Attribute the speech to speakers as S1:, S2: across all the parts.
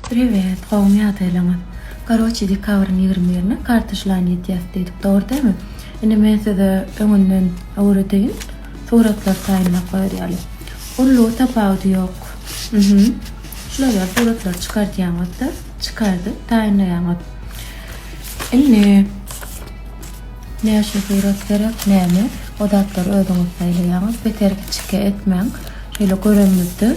S1: Priwet, gowmy ýagdaýlaryňyz? Karoçi dekabryň ýigrimi birine kartyşlany ýetýäs diýdik, dogry dälmi? Indi men size öňünden öwredeýin, suratlary taýynlap goýar ýaly. Ullugy tapawudy ýok. Mhym. Şular ýaly suratlary çykardýaňyz-da, çykardyp taýynlaýaňyz. Indi näçe surat gerek, näme, o zatlary özüňiz saýlaýaňyz. Beter kiçike etmäň. Şeýle görenimizde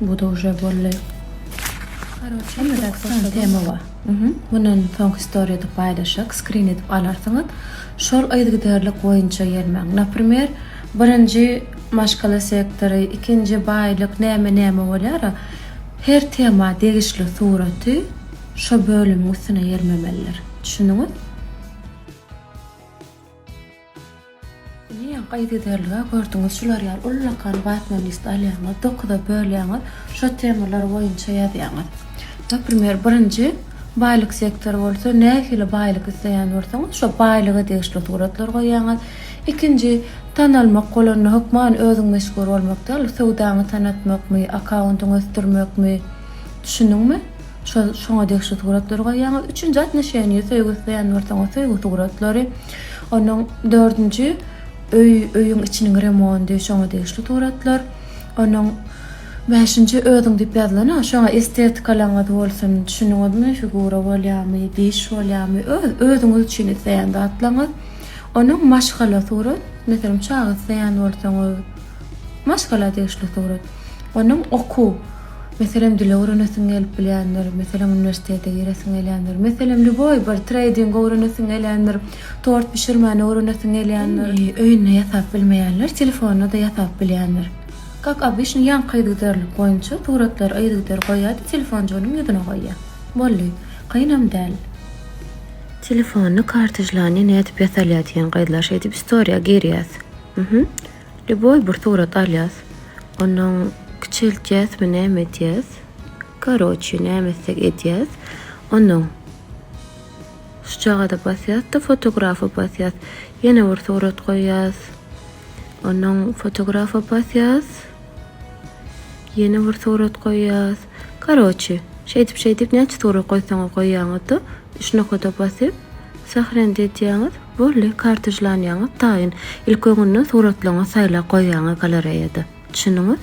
S1: Bu da uje bolly. Karoçe ýöräp başlady. Tema bar. Mundan soňky story edip paýlaşak, skrin edip alarsyňyz. Şol yzgiderlik boýunça gelmäň. Naprimer, birinji maşgala sektory, ikinji baýlyk näme näme bolýara, her tema degişli suraty şo bölümiň üstüne ýermemeliler. Düşündiňiz? Diýýän, gaýt ederlige gördüňiz şular ýaly ullakan watman list alýaňyz, dokuza bölýäňiz, şo temalar boýunça ýazýaňyz. Naprimer, birinji baýlyk sektory bolsa nähili baýlyk isleýän bolsaňyz şo baýlyga degişli suratlar goýýaňyz. Ikinji, tanalmak bolanda hökman özüň meşhur bolmak däl, söwdaňy tanatmakmy, akkauntyňy ösdürmekmi, düşündiňmi? Şol şoňa degişli suratlary goýýaňyz. Üçünji atnoşeniýa söýgi isleýän bolsaň, o söýgi suratlary. Ondan dördünji öý, öýüň içiniň remondy, şoňa degişli suratlar. Ondan bäşinji özüň diýip ýazylan-a, şoňa estetikalygyňyz bolsun, düşündiňizmi, figura bolýarmy, diş bolýarmy, öz, özüňiz üçin isleýän zatlaryňyz. Ondan maşgala surat, meselem, çaga isleýän bolsaňyz, maşgala degişli surat. Ondan okuw. Meselem, dil öwrenesiň gelip bilýändir, meselem, uniwersitete giresiň gelýändir, meselem, lýuboý bir treýding öwrenesiň gelýändir, tort bişirmäni öwrenesiň gelýändir. Indi öýünde ýasap bilmeýänler telefonda-da ýasap bilýändir. Kak obişni ýaňky yzygiderlik boýunça suratlary yzygider goýýar-da, telefonjygynyň ýüzüne goýýar. Boldy. Kynam däl. Telefony kartijlany nädip ýasalýar diýen gyzlar şeýdip istoriýa girýär. Uhuh. Lýuboý bir surat alýas. Ondan kiçeltýäsmi näme edýäs. Karoçi näme etsek edýäs. Ondan şu çagada basýas-da fotografa basýas. Ýene bir surat goýýas. Ondan fotografa basýas. Ýene bir surat goýýas. Karoçi, şeýdip-şeýdip näçe surat goýsaňyz goýýaňyz-da, üç nokada basyp, Sahrenit edýäňiz, boldy, kartejlanýaňyz taýyn. Ilki öňünden suratlaryňyzy saýlap goýýaňyz galereýada. Düşündiňiz?